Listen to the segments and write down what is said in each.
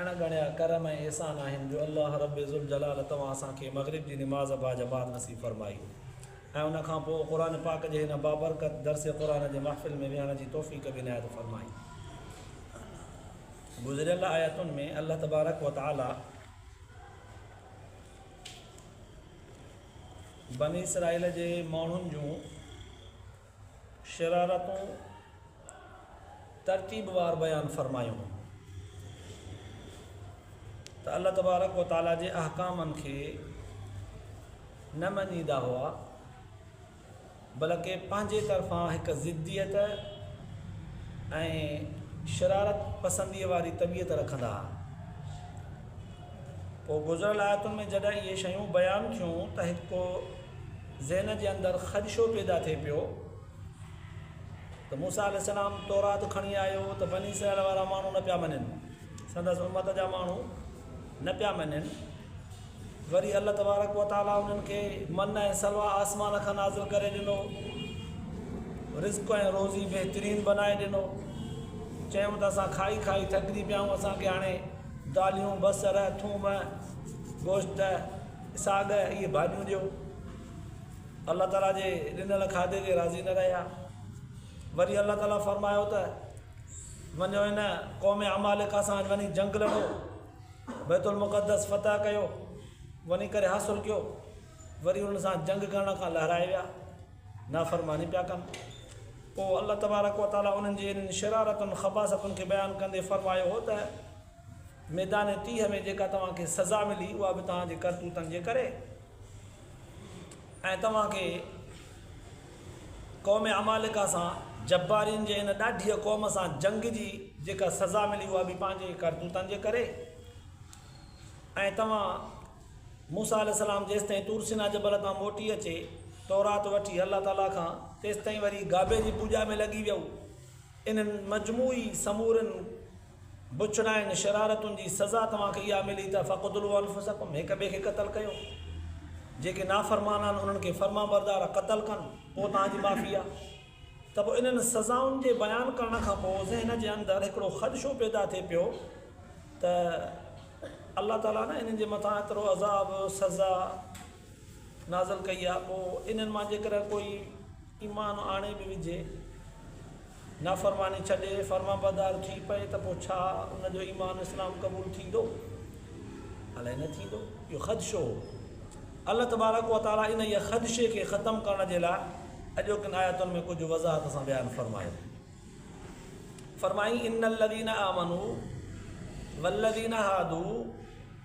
اڻ ڳڻيا ڪرم ۽ احسان آهن جو الله رب ذوالجلال توهان اسان کي مغرب جي نماز با جماعت نصيب فرمائي ۽ ان کان پوء قرآن پاڪ جي هن بابرڪت درس قرآن جي محفل ۾ ويهڻ جي توفيق به عنايت فرمائي. گذريل آيتن ۾ الله تبارڪ وتعالي بني اسرائيل جي ماڻهن جون شرارتون ترتيبوار بيان فرمايون ته الله تبارڪ و تعالي جي احڪامن کي نه مڃيندا هئا بلڪه پنهنجي طرفان هڪ ضديت ۽ شرارت پسندي واري طبيعت رکندا هئا پوء گذريل آيتن ۾ جڏهن اهي شيون بيان ٿيون ته هڪ ذهن جي اندر خدشو پيدا ٿئي پيو ته موسيٰ عليه السلام تورات کڻي آيو ته بني اسرائيل وارا ماڻهو نه پيا مڃن سندس امت جا ماڻهو نه پيا مڃن وري الله تبارڪ و تعالٰي انهن کي من ۽ سلوا آسمان کان نازل ڪري ڏنو رزق ۽ روزي بهترين بنائي ڏنو چيو ته اسان کائي کائي ٿڪجي پيا آهيون اسانکي هاڻي داليون بصر ٿوم گوشت ساڳ اهي ڀاڄيون ڏيو. الله تعاليٰ جي ڏنل کاڌي تي راضي نه رهيا. وري الله تعاليٰ فرمايو ته وڃو هن قوم عمالقه سان وڃي جنگ لڙو، بيت المقدس فتح ڪيو، وڃي ڪري حاصل ڪيو. وري انهن سان جنگ ڪرڻ کان لهرائي ويا، نافرماني پيا ڪن. پوء الله تبارڪ وتعاليٰ انهن جي انهن شرارتن، خباثتن کي بيان ڪندي فرمايو هو ته. ميدان تيهه ۾ جيڪا توهان کي سزا ملي اها به توهان جي ڪرتوتن جي ڪري ۽ توهان کي قوم عمالقه سان جبارين جي ان ڏاڍيء قوم سان جنگ جي جيڪا سزا ملي اها به پنهنجي ڪرتوتن جي ڪري ۽ توهان موسا عليه السلام جيستائين تورسينا جبل تان موٽي اچي تورات وٺي الله تعاليٰ کان تيستائين وري گابي جي پوڄا ۾ لڳي ويو انهن مجموعي سمورن بڇڙائن شرارتن جي سزا توهان کي اها ملي ته فقتلوا انفسکم هڪ ٻئي کي قتل ڪيو جيڪي نافرمان آهن انهن کي فرمانبردار قتل ڪن پوء توهان جي معافي آهي ته پوء انهن سزائن جي بيان ڪرڻ کان پوء ذهن جي اندر هڪڙو خدشو پيدا ٿئي پيو ته الله تعاليٰ نه انهن جي مٿان ايترو عذاب سزا نازل ڪئي آهي پوء انهن مان جيڪڏهن ڪوئي ايمان آڻي به وجهي، نافرماني ڇڏي، فرمانبردار ٿي پئي ته پوء ڇا ان جو ايمان اسلام قبول ٿيندو؟ الائي نه ٿيندو. اهو خدشو هو. الله تبارڪ و تعاليٰ انهيء خدشي کي ختم ڪرڻ جي لاء اڄوڪين آيتن ۾ ڪجهه وضاحت سان بيان فرمايو. فرمائين، ان الذين آمنوا والذين هادوا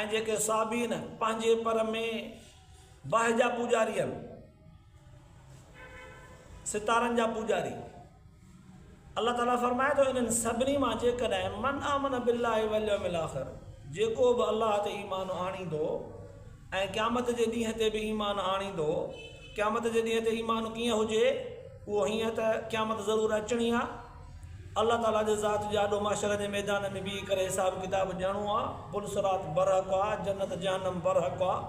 ۽ جيڪي صابين پنهنجي پر ۾ باهه جا پوڄاري آهن، ستارن جا پوڄاري، الله تعالي فرمائي ٿو انهن سڀني مان جيڪڏهن من آمن بالله واليوم الاخر جيڪو به الله تي ايمان آڻيندو ۽ قيامت جي ڏينهن تي به ايمان آڻيندو، قيامت جي ڏينهن تي ايمان ڪيئن هجي؟ اهو هيئن ته قيامت ضرور اچڻي آهي. الله تعاليٰ جي ذات جي آڏو محشر جي ميدان ۾ بيهي ڪري حساب ڪتاب ڏيڻو آهي. پل صراط برحق آهي، جنت جهنم برحق آهي.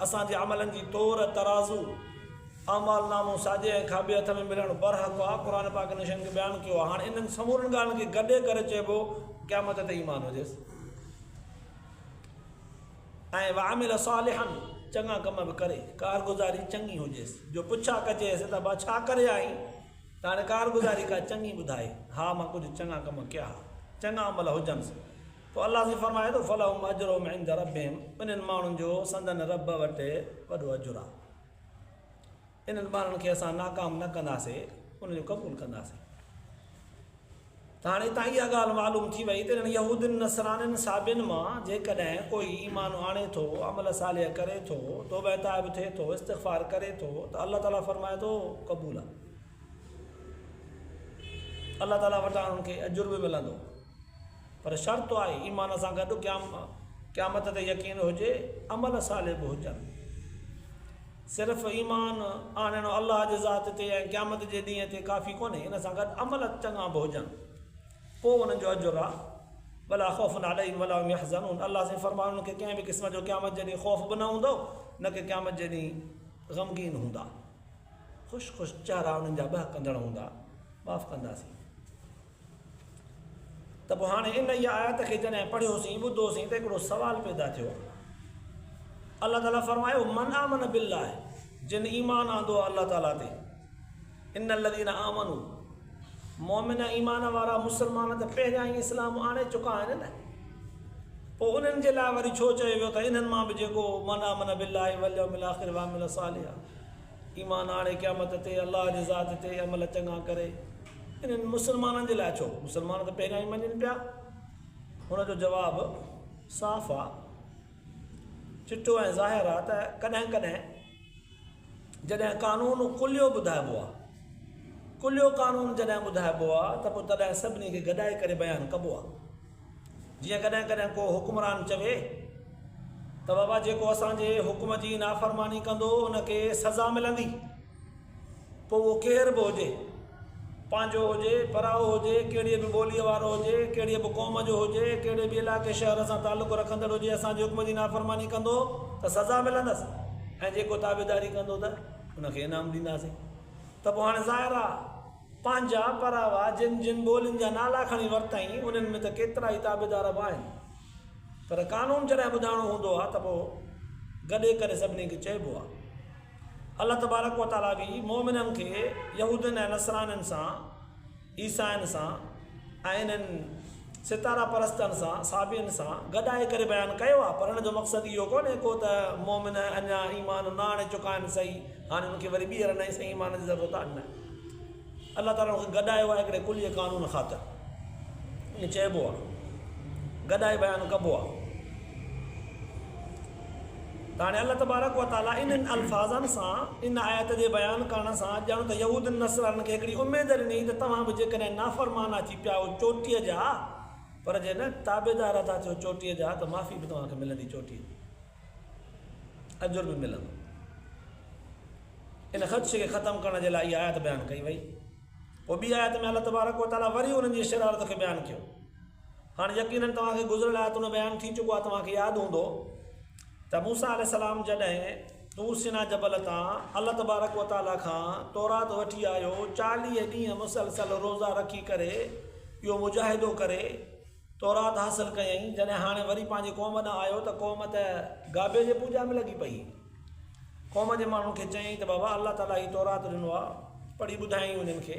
اسان جي عملن جي تور، ترازو، اعمال نامو ساڄي ۽ کاٻي هٿ ۾ ملڻ برحق آهي. قرآن پاڪ انهن شين کي بيان ڪيو آهي. هاڻ انهن سمورين ڳالهين کي گڏي ڪري چئبو قيامت تي ايمان هجيس. ۽ وعمل صالحا چڱا ڪم به ڪري ڪارگذاري چڱي هجيس جو پڇا ڪجي سي ته ابا ڇا ڪري آئين ته هاڻي ڪارگذاري ڪا چڱي ٻڌائي ها مان ڪجهه چڱا ڪم ڪيا ها چڱا عمل هجنس پوء الله سائين فرمائي ٿو فلهم اجرهم عند ربهم انهن ماڻهن جو سندن رب وٽ وڏو اجر آهي. انهن ٻارڙن کي اسان ناڪام نه ڪنداسين، انهن جو قبول ڪنداسين. ته هاڻي هتان اها ڳالهه معلوم ٿي وئي ته انهن يهودين، نصرانين، صابين مان جيڪڏهن ڪوئي ايمان آڻي ٿو، عمل صالح ڪري ٿو، توبه تائب ٿئي ٿو، استغفار ڪري ٿو ته الله تعاليٰ فرمائي ٿو قبول آ. الله تعاليٰ وٽان انهن کي اجر به ملندو. پر شرط آهي ايمان سان گڏ قيامت تي يقين هجي، عمل صالح به هجن. صرف ايمان آڻڻ الله جي ذات تي ۽ قيامت جي ڏينهن تي ڪافي ڪونهي، ان سان گڏ عمل چڱا به هجن، پوء انهن جو اجر آهي، ولا خوف عليهم ولا هم يحزنون، الله سائين فرمايو انهن کي ڪنهن به قسم جو قيامت جي ڏينهن خوف به نه هوندو، نه ڪي قيامت جي ڏينهن غمگين هوندا. خوش خوش چهرا انهن جا ٻهڪندڙ هوندا، معاف ڪنداسين. ته پوء هاڻي انهيء آيت کي جڏهن پڙهيوسين، ٻڌوسين ته هڪڙو سوال پيدا ٿيو. الله تعاليٰ فرمايو، من آمن بالله، جن ايمان آندو آهي الله تعاليٰ تي، ان الذين آمنوا، مؤمن ايمان وارا مسلمان ته پهريان ئي اسلام آڻي چڪا آهن نه، پوء انهن جي لاء وري ڇو چيو ويو ته انهن مان به جيڪو من آمن بالله واليوم الاخر وعمل صالحا، ايمان آڻي قيامت تي الله جي ذات تي عمل چڱا ڪري انهن مسلمانن جي لاء ڇو مسلمان ته پهريان ئي مڃين پيا هن جو جواب صاف آ چٽو ۽ ظاهر آ ته ڪڏهن ڪڏهن جڏهن قانون ڪليو ٻڌائبو آ ڪليو قانون جڏهن ٻڌائبو آ ته پوء تڏهن سڀني کي گڏائي ڪري بيان ڪبو آ جيئن ڪڏهن ڪڏهن ڪو حڪمران چوي ته بابا جيڪو اسان جي حڪم جي نافرماني ڪندو ان کي سزا ملندي پوء اهو ڪير به هجي پنهنجو هجي پرائو هجي ڪهڙي به ٻوليء وارو هجي ڪهڙي به قوم جو هجي ڪهڙي به علائقي شهر سان تعلق رکندڙ هجي اسان جي حڪم جي نافرماني ڪندو ته سزا ملندس ۽ جيڪو تابعداري ڪندو ته ان کي انعام ڏينداسين ته پوء هاڻي ظاهر آهي پنهنجا پراوا جن جن ٻولين جا نالا کڻي ورتائين، انهن ۾ ته ڪيترائي تابعدار به آهن، پر قانون جڏهن ٻڌائڻو هوندو آهي ته پوء گڏي ڪري سڀني کي چئبو آهي. الله تبارڪ و تعاليٰ به مؤمنن کي يهودين ۽ نصرانين سان، عيسائين سان، ۽ انهن ستاره پرستن سان، صحابين سان، گڏ آهي ڪري بيان ڪيو آهي پر ان جو مقصد اهو ڪونهي ڪو ته مؤمن اڃا ايمان نه آڻي چڪا آهن سهي هاڻي انهن کي وري ٻيهر نئين سان ايمان جي ضرورت آهي نه الله تعالي انهن کي گڏايو آهي هڪڙي ڪلي قانون خاطر ائين چئبو آهي گڏائي بيان ڪبو آهي ته هاڻي الله تبارڪ و تعالي انهن الفاظن سان ان آيت جي بيان ڪرڻ سان ڄڻ ته يهودين نصرانين کي هڪڙي اميد ڏني ته توهان به جيڪڏهن نافرمان آ ٿي پيا آهيو چوٽيء جا پر جي نه تابعدار ٿا ٿيو چوٽيء جا ته معافي به توهان کي ملندي چوٽيء جي اجر به ملندو ان خدشي کي ختم ڪرڻ جي لاء هي آيت بيان ڪئي وئي پوء ٻي آيت ۾ الله تبارڪ و تعالي وري انهن جي شرارت کي بيان ڪيو هاڻ يقينن توهان کي گذريل آيتن جو بيان ٿي چڪو آهي، توهان کي ياد هوندو ته موسيٰ عليه السلام جڏهن طور سيناء جبل تان الله تبارڪ و تعاليٰ کان تورات وٺي آيو، چاليهه ڏينهن مسلسل روزا رکي ڪري اهو مجاهدو ڪري تورات حاصل ڪيائين، جڏهن هاڻي وري پنهنجي قوم ڏانهن آيو ته قوم ته گابي جي پوڄا ۾ لڳي پئي، قوم جي ماڻهن کي چيائين ته بابا الله تعاليٰ هي تورات ڏنو آهي، پڙهي ٻڌايائين انهن کي.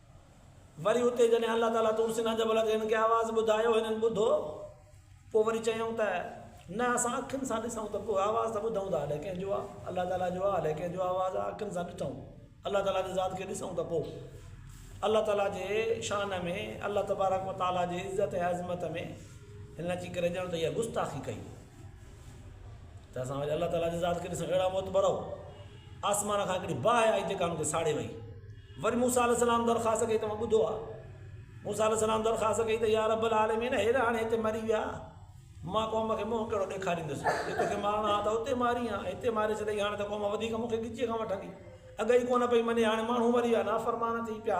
وري اتي جڏهن الله تعاليٰ طور سينيٰ جبل تي هنن کي آواز ٻڌايو، هنن ٻڌو، پوء وري چيائون ته، نه اسان اکين سان ڏسون ته ڪو آواز ته ٻڌون ٿا الئه ڪنهن جو آهي، الله تعاليٰ جو آهي الئه ڪنهن جو آواز آهي، اکين سان ڏٺئون، الله تعاليٰ جي ذات کي ڏسون ته پوء الله تعاليٰ جي شان ۾ الله تبارڪ و تعاليٰ جي عزت ۽ عظمت ۾ هنن اچي ڪري ڄڻ ته اها گستاخي ڪئي. ته اسان وري الله تعاليٰ جي ذات کي ڏسڻ اهڙا معتبر آهو آسمان کان هڪڙي باهه آئي جيڪا ان کي ساڙي وئي وري موسا عليه السلام درخواست ڪئي توهان ٻڌو آ موسا عليه السلام درخواست ڪئي ته يا رب العالمين هير هاڻي هتي مري ويا مان قوم کي منهن کي ڏيکاريندس جي توکي مارڻا آ ته اتي ماري ها هتي ماري ڇڏي هاڻي ته قوم وڌيڪ مون کي ڳچيء کان وٺندي اگهي ڪونه پئي مڃي هاڻي ماڻهو مري ويا نافرمان ٿي پيا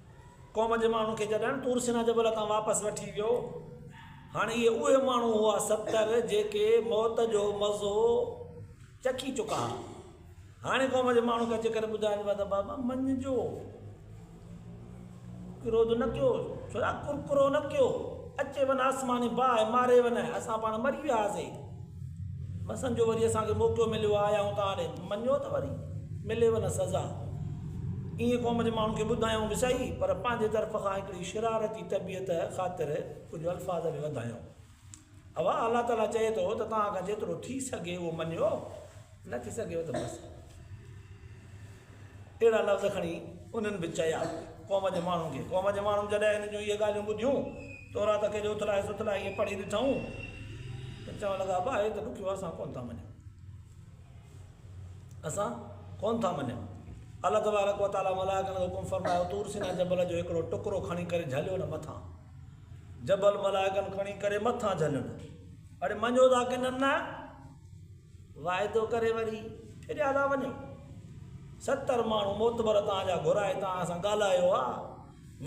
قوم جي ماڻهن کي جڏهن طور سينا جبل تان واپس وٺي ويو هاڻ اهي اهي ماڻهو هئا ستر جيڪي موت جو مزو چکي چڪا ها هاڻي قوم جي ماڻهن کي اچي ڪري ٻڌائجي ته بابا مڃ جو ڪروڌ نه ڪيو ڇو ڪرڪرو نه ڪيو اچي ون آسماني باهه ماري ون اسان پاڻ مري وياسي بسن جو وري اسان کي موقعو مليو آء آيائون ته آڏي مڃيو ته وري ملي و نه سزا ائين قوم جي ماڻهن کي ٻڌايائون به سهي پر پنهنجي طرف کان هڪڙي شرارتي طبيعت خاطر ڪجهه الفاظ به وڌايائون اوا الله تعالي چئي ٿو ته توهان کان جيترو ٿي سگهي اهو مڃيو نه ٿي سگهيو ته بس اهڙا لفظ کڻي انهن به چيا قوم جي ماڻهن کي قوم جي ماڻهن جڏهن هن جون اهي ڳالهيون ٻڌيون تورات کي جو اٿلائي سٿلائي ائين پڙهي ڏٺائون ته چوڻ لڳا با هي ته ڏکيو اسان ڪون ٿا مڃون اسان ڪون ٿا مڃون الله تبارڪ و تعاليٰ ملائڪن جو حڪم فرمايو تور سينا جبل جو هڪڙو ٽڪرو کڻي ڪري جهليو نه مٿان جبل ملائڪن کڻي ڪري مٿان جهليو نه اڙي مڃو ٿا ڪن نه واعدو ڪري وري ڦريا ٿا وڃو. ستر ماڻهو معتبر توهان جا گهرائي توهان سان ڳالهايو آ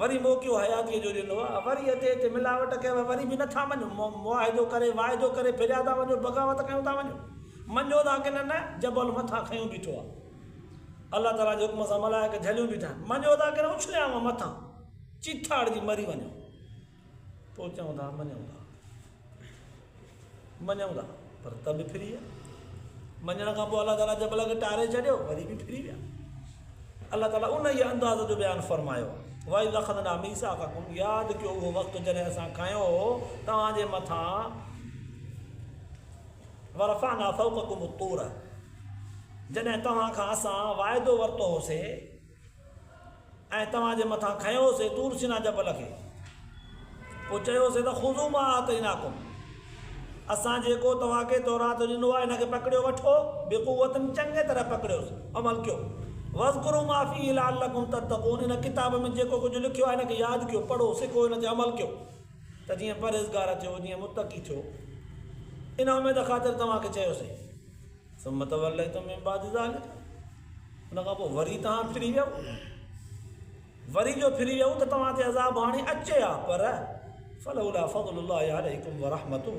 وري موقعو حياتيء جو ڏنو آ وري اتي اتي ملاوٽ ڪيو آ وري به نه ٿا مڃو معاهدو ڪري واعدو ڪري ڦريا ٿا وڃو بغاوت ڪيون ٿا وڃو مڃو ٿا ڪي نه نه جبل مٿان کنيو بيٺو آ الله تعالي جي حڪم سان ملائڪ جهليون بيٺا آهن مڃو ٿا ڪي نه اڇليانو مٿان چيٿاڙجي مري وڃو. پوء چئون ٿا مڃون ٿا مڃون ٿا پر ته به ڦري ويا مڃڻ کان پوء الله تعاليٰ جبل کي ٽاري ڇڏيو وري به ڦري ويا الله تعاليٰ ان جي انداز جو بيان فرمايو وائي لکن نامي سا کا کن ياد کيو هو وقت جنه اسا کايو هو تها جي مٿا ورفا نا فوق کم تور جنه تها کان اسا وائدو ورتو هو سي ۽ توهان جي مٿان کنيوسين طور سينا جبل کي، پوء چيوسين ته خذو ما آتيناڪم، اسان جيڪو توهان کي تورات ڏنو آهي ان کي پڪڙيو وٺو، بقوة چڱيء طرح پڪڙيوس، عمل ڪيو، واذڪروا ما فيه لعلڪم تتقون، ان ڪتاب ۾ جيڪو ڪجهه لکيو آهي ان کي ياد ڪيو، پڙهو، سکو، ان تي عمل ڪيو ته جيئن پرهيزگار ٿيو، جيئن متقي ٿيو، ان اميد خاطر توهان کي چيوسين. ثم توليتم من بعد ذلک ان کان پوء وري توهان ڦري ويو وري جو ڦري ويو ته توهان تي عذاب هاڻي اچي ها پر فلولا فضل الله عليكم ورحمته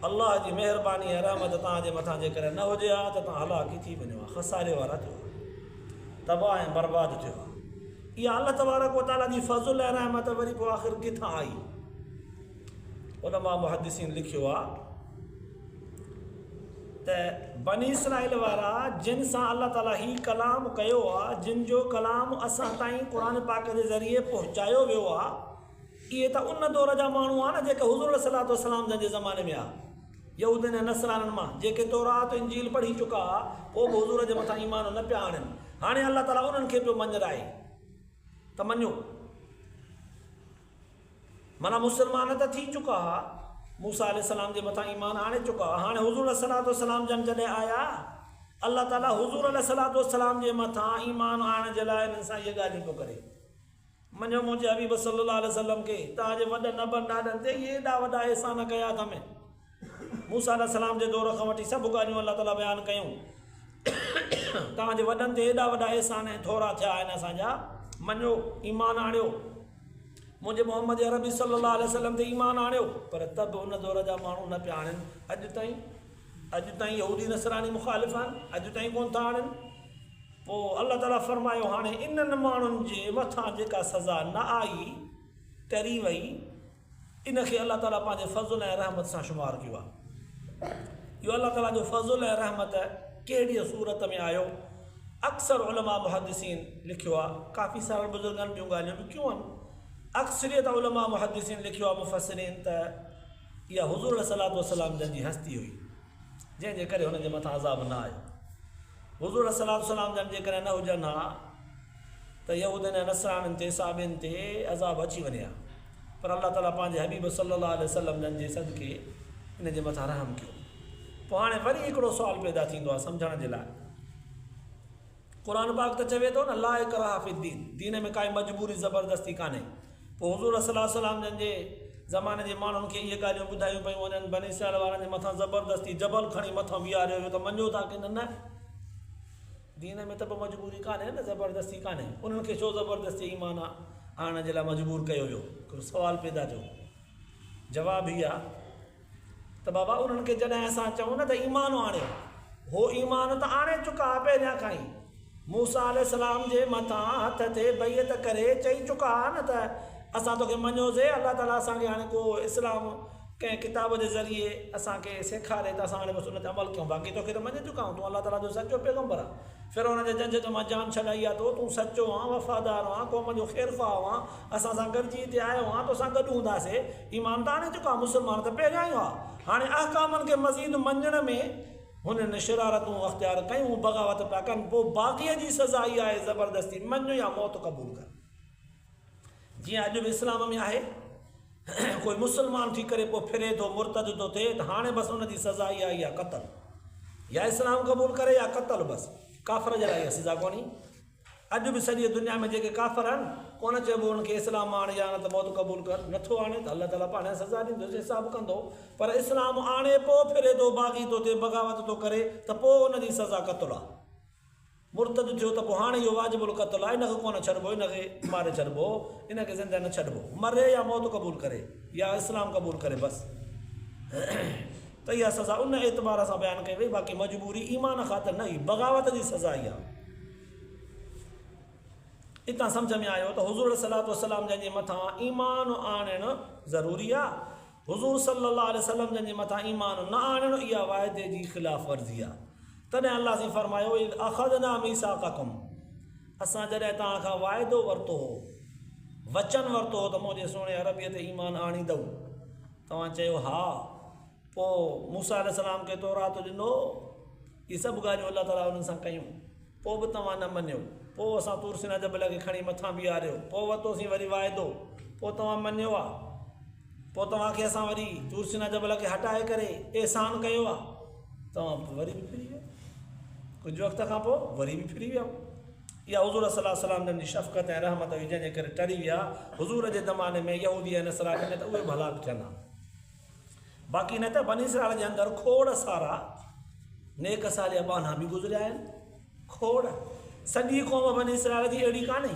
الله جي مهرباني ۽ رحمت توهان جي مٿان جيڪڏهن نه هجي ها ته توهان هلاڪ ئي ٿي وڃو ها خساري وارا ٿيو تباهه ۽ برباد ٿيو ها اها الله تبارڪ وتعالى جي فضل ۽ رحمت وري پوء آخر ڪٿان آئي علماء محدثين لکيو آ ته بني اسرائيل وارا جن سان الله تعالي هي ڪلام ڪيو آ، جن جو ڪلام اسان تائين قرآن پاڪ جي ذريعي پهچايو ويو آ، اهي ته ان دور جا ماڻهو آ نه جيڪي حضور عليه الصلوة والسلام جن جي زماني ۾ آ، يهودين ۽ نصرانين مان، جيڪي تورات و انجيل پڙهي چڪا آ، پوء به حضور جي مٿان ايمان نه پيا آڻين، هاڻي الله تعالي انهن کي پيو مڃرائي ته مڃو. معنيٰ مسلمان ته ٿي چڪا ها، موسيٰ عليه السلام جي مٿان ايمان آڻي چڪا ها، هاڻي حضور عليه الصلوة والسلام جن جڏهن آيا، الله تعاليٰ حضور عليه الصلوة والسلام جي مٿان ايمان آڻڻ جي لاء انهن سان اهي ڳالهيون پيو ڪري. مڃيو منهنجي حبيب صلّي الله عليه وسلّم کي، توهان جي وڏن ابن ڏاڏن تي اهي ايڏا وڏا احسان ڪيا اٿم. موسيٰ عليه السلام جي دور کان وٺي سڀ ڳالهيون الله تعاليٰ بيان ڪيون. توهان جي وڏن تي ايڏا وڏا احسان ۽ ٿورا ٿيا آهن اسان جا، مڃيو، ايمان آڻيو، منهنجي محمد عربي صلّي اللّٰه عليه وسلّم تي ايمان آڻيو، پر ته به ان دور جا ماڻهو نه پيا آڻين، اڄ تائين، اڄ تائين يهودي نصراني مخالف آهن، اڄ تائين ڪونه ٿا آڻين. پوء الله تعاليٰ فرمايو، هاڻي انهن ماڻهن جي مٿان جيڪا سزا نه آئي، ٽري وئي، ان کي الله تعالي پنهنجي فضل ۽ رحمت سان شمار ڪيو آهي. اهو الله تعالي جو فضل ۽ رحمت ڪهڙيء صورت ۾ آيو؟ اڪثر علماء محدثين لکيو آهي، ڪافي سارن بزرگن ٻيون ڳالهيون به ڪيون آهن. اڪثريت علماء محدثين لکيو آهي، مفسرين، ته اها حضور عليه الصلوة والسلام جن جي هستي هئي. جنهن جي ڪري هنن جي مٿان عذاب نه آيو. حضور عليه الصلوة والسلام جن جيڪڏهن نه هجن ها ته يهودين ۽ نصرانين تي، صحابين تي، عذاب اچي وڃي ها. پر الله تعالي پنهنجي حبيب صلّي الله عليه وسلّم جن جي صدقي انهن جي مٿان رحم ڪيو. پوء هاڻي وري هڪڙو سوال پيدا ٿيندو آهي سمجهڻ جي لاء. قرآن پاڪ ته چوي ٿو نه لا اڪراه في الدين دين ۾ ڪائي مجبوري زبردستي ڪانهي پوء حضور صلي الله عليه وسلم جن جي زماني جي ماڻهن کي اهي ڳالهيون ٻڌايون پيون وڃن بني اسرائيل وارن جي مٿان زبردستي جبل کڻي مٿان بيهاريو ويو ته مڃو ٿا ڪي نه نه دين ۾ ته به مجبوري ڪانهي نه زبردستي ڪانهي انهن کي ڇو زبردستي ايمان آڻڻ جي لاء مجبور ڪيو ويو هڪڙو سوال پيدا ٿيو جواب هي آهي ته بابا انهن کي جڏهن اسان چئون نه ته ايمان آڻيو هو ايمان ته آڻي چڪا ها پهريان کان ئي موسيٰ عليه السلام جي مٿان هٿ تي بيعت ڪري چئي چڪا ها نه ته اسان توکي مڃيو سي الله تعالي اسان کي هاڻي ڪو اسلام ڪنهن ڪتاب جي ذريعي اسان کي سيکاري ته اسان هاڻي بس ان تي عمل ڪيون باقي توکي ته مڃي چڪا آهيون تون الله تعالي جو سچو پيغمبر آهين فرعون جي جنجهٽ مان جان ڇڏائي آ تو تون سچو آن وفادار آن قوم جو خيرخواهه آن اسان سان گڏجي هتي آيو آن توسان گڏ هوندا سي ايمانداري جو ڪم مسلمان کي پهريان ئي آهي. هاڻي احڪامن کي مزيد مڃڻ ۾ هنن شرارتون اختيار ڪيون، هو بغاوت پيا ڪن، پوء باغيء جي سزا اها آهي، زبردستي مڃ يا موت قبول ڪر. جيئن اڄ به اسلام ۾ آهي، ڪوئي مسلمان ٿي ڪري پوء ڦري ٿو، مرتد ٿو ٿئي ته هاڻي بس ان جي سزا اها آهي يا قتل. يا اسلام قبول ڪري يا قتل بس. ڪافر جي لاء اها سزا ڪونهي. اڄ به سڄي دنيا ۾ جيڪي ڪافر آهن ڪونه چئبو انهن کي اسلام مان آڻي يا نه ته موت قبول ڪر نٿو آڻي ته الله تعالي پاڻهي سزا ڏيندو جي حساب ڪندو پر اسلام آڻي پو ڦري ٿو باغي تو تي بغاوت ٿو ڪري ته پو ان جي سزا قتل آ مرتد ٿيو ته پو هاڻي اهو واجب القتل آ ان کي ڪونه ڇڏبو ان کي ماري ڇڏبو ان کي زنده نه ڇڏبو مري يا موت قبول ڪري يا اسلام قبول ڪري بس ته اها سزا ان اعتبار سان بيان ڪئي وئي باقي مجبوري ايمان خاطر نه هئي بغاوت جي سزا ئي آهي. اتان سمجهه ۾ آيو ته حضور عليه الصلاة والسلام جن جي مٿان ايمان آڻڻ ضروري آهي حضور صلي الله عليه وسلم جن جي مٿان ايمان نه آڻڻ اها واعدي جي خلاف ورزي آهي تڏهن الله سائين فرمايو اذ اخذنا ميثاقکم اسان جڏهن توهان کان واعدو ورتو هو وچن ورتو هو ته منهنجي سهڻي عربيء تي ايمان آڻيندؤ توهان چيو، ها، پوء موسيٰ عليه السلام کي تورات ڏنو، هي سڀ ڳالهيون الله تعاليٰ انهن سان ڪيون، پوء به توهان نه مڃيو، پوء اسان طور سينا جبل کي کڻي مٿان بيهاريو، پوء ورتوسين وري واعدو، پوء توهان مڃيو آ، پوء توهان کي اسان وري طور سينا جبل کي هٽائي ڪري احسان ڪيو آ، توهان وري به ڦري ويا، ڪجهه وقت کان پوء وري به ڦري ويا. اها حضور صلّي اللّٰه عليه وسلّم جن جي شفقت ۽ رحمت هئي جنهن جي ڪري ٽري ويا. حضور جي زماني ۾ يهودي ۽ نصراني ۾ ته اهي به هلاڪ ٿين ها. باقي نه ته بني اسرائيل جي اندر کوڙ سارا نيڪ صالح ٻانها به گذريا آهن. کوڙ. سڄي قوم بني اسرائيل جي اهڙي ڪانهي.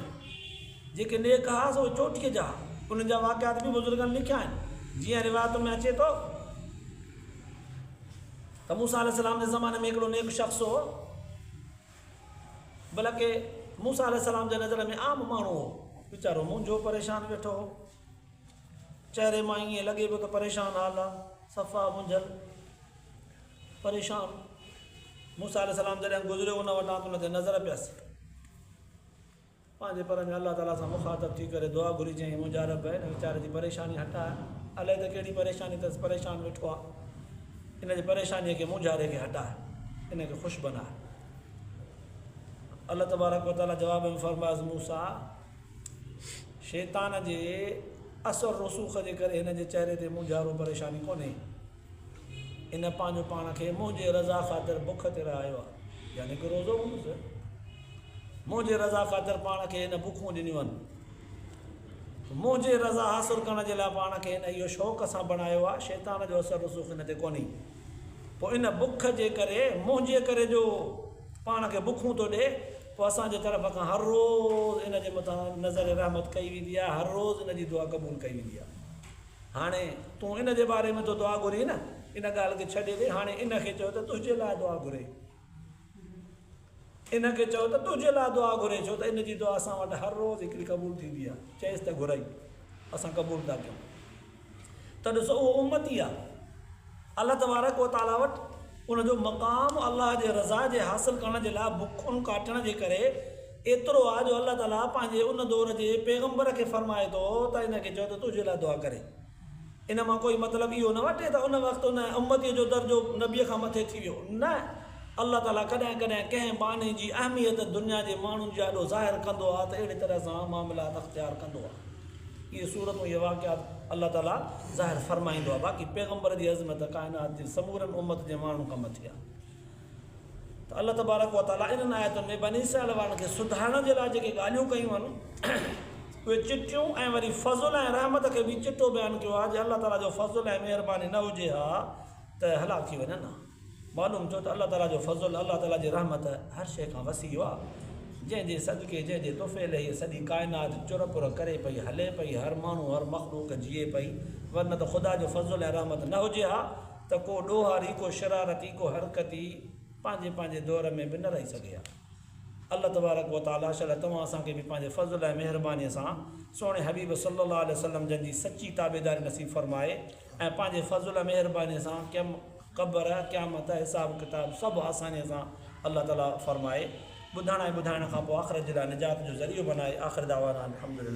جيڪي نيڪ ها سو اهي چوٽيء جا ها. انهن جا واقعات به بزرگن لکيا آهن. جيئن روايتن ۾ اچي ٿو ته موسيٰ عليه السّلام جي زماني ۾ هڪڙو نيڪ شخص هو. بلڪ موسيٰ عليه السلام جي نظر ۾ عام ماڻهو هو. ويچارو مونجهو پريشان ويٺو هو. چهري مان ائين لڳي پيو ته پريشان حال آ. صفا مونجهيل، پريشان. موسيٰ عليه السلام جڏهن گذريو ان وٽان ته ان تي نظر پيس. پنهنجي پر ۾ الله تعاليٰ سان مخاطب ٿي ڪري دعا گهري چيائين، منهنجا رب! هن ويچاري جي پريشاني هٽاء. الائي ته ڪهڙي پريشاني اٿس، پريشان ويٺو آهي. هن جي پريشانيء کي، مونجهاري کي هٽاء. هن کي خوش بناء. الله تبارڪ و تعاليٰ جواب ۾ فرمايس، موسيٰ! شيطان جي اثر رسوخ جي ڪري هن جي چهري تي مونجهارو، پريشاني، ڪونهي. ان پنهنجو پاڻ کي منهنجي رضا خاطر بک تي رهايو آهي، يعني ڪو روزو هوندس، منهنجي رضا خاطر پاڻ کي هن بکون ڏنيون آهن، منهنجي رضا حاصل ڪرڻ جي لاء پاڻ کي هن اهو شوق سان بڻايو آهي، شيطان جو اثر رسوخ هن تي ڪونهي، پوء ان بک جي ڪري، منهنجي ڪري جو پاڻ کي بکون ٿو ڏئي، پوء اسان جي طرف کان هر روز ان جي مٿان نظر رحمت ڪئي ويندي آهي، هر روز ان جي دعا قبول ڪئي ويندي آهي. هاڻي تون ان جي باري ۾ ٿو دعا گهرين نه، ان ڳالهه کي ڇڏي ڏي، هاڻي ان کي چئو ته تنهنجي لاء دعا گهري. ان کي چئو ته تنهنجي لاء دعا گهري، ڇو ته ان جي دعا اسان وٽ هر روز هڪڙي قبول ٿيندي آهي. چئيس ته گهرئي، اسان قبول ٿا ڪيون. ته ڏسو اهو امتي آهي. الله تبارڪ و تعاليٰ وٽ ان جو مقام الله جي رضا جي حاصل ڪرڻ جي لاء بکون ڪاٽڻ جي ڪري ايترو آهي جو الله تعاليٰ پنهنجي ان دور جي پيغمبر کي فرمائي ٿو ته ان کي چئو ته تنهنجي لاء دعا ڪري. ان مان ڪوئي مطلب اهو نه وٺي ته ان وقت ان امتيء جو درجو نبيء کان مٿي ٿي ويو. نه، الله تعاليٰ ڪڏهن ڪڏهن ڪنهن ٻانهي جي اهميت دنيا جي ماڻهن جي آڏو ظاهر ڪندو آهي ته اهڙي طرح سان معاملات اختيار ڪندو آهي. اهي صورتون اهي واقعات الله تعاليٰ ظاهر فرمائيندو آهي باقي پيغمبر جي عظمت ڪائنات جي سمورن امت جي ماڻهن کان مٿي آهي ته الله تبارڪ و تعاليٰ انهن آيتن ۾ بني اسرائيل وارن کي سڌارڻ جي لاء جيڪي ڳالهيون ڪيون آهن اهي چٽيون ۽ وري فضل ۽ رحمت کي به چٽو بيان ڪيو آهي جي الله تعاليٰ جو فضل ۽ مهرباني نه هجي ها ته هلاڪ ٿي وڃن ها معلوم ٿيو ته الله تعاليٰ جو فضل، الله تعاليٰ جي رحمت هر شيء کان وسيع آ، جنهن جي صدقي، جنهن جي طفيلي هيء سڄي ڪائنات چر پر ڪري پئي، هلي پئي، هر ماڻهو، هر مخلوق جيئي پئي، ورنه ته خدا جو فضل ۽ رحمت نه هجي ها ته ڪو ڏوهاري، ڪو شرارتي، ڪو حرڪتي پنهنجي پنهنجي دور ۾ به نه رهي سگهي ها. الله تبارڪ و تعاليٰ شل توهان اسان کي به پنهنجي فضل ۽ مهربانيء سان سهڻي حبيب صلّي الله عليه وسلّم جن جي سچي تابعداري نصيب فرمائي ۽ پنهنجي فضل ۽ مهربانيء سان ڪم قبر، قيامت، حساب ڪتاب سڀ آسانيء سان الله تعاليٰ فرمائي ٻڌڻ ۽ ٻڌائڻ کان پوء آخرت جي لاء نجات جو ذريعو بنائي آخر دعوانا ان الحمد لله.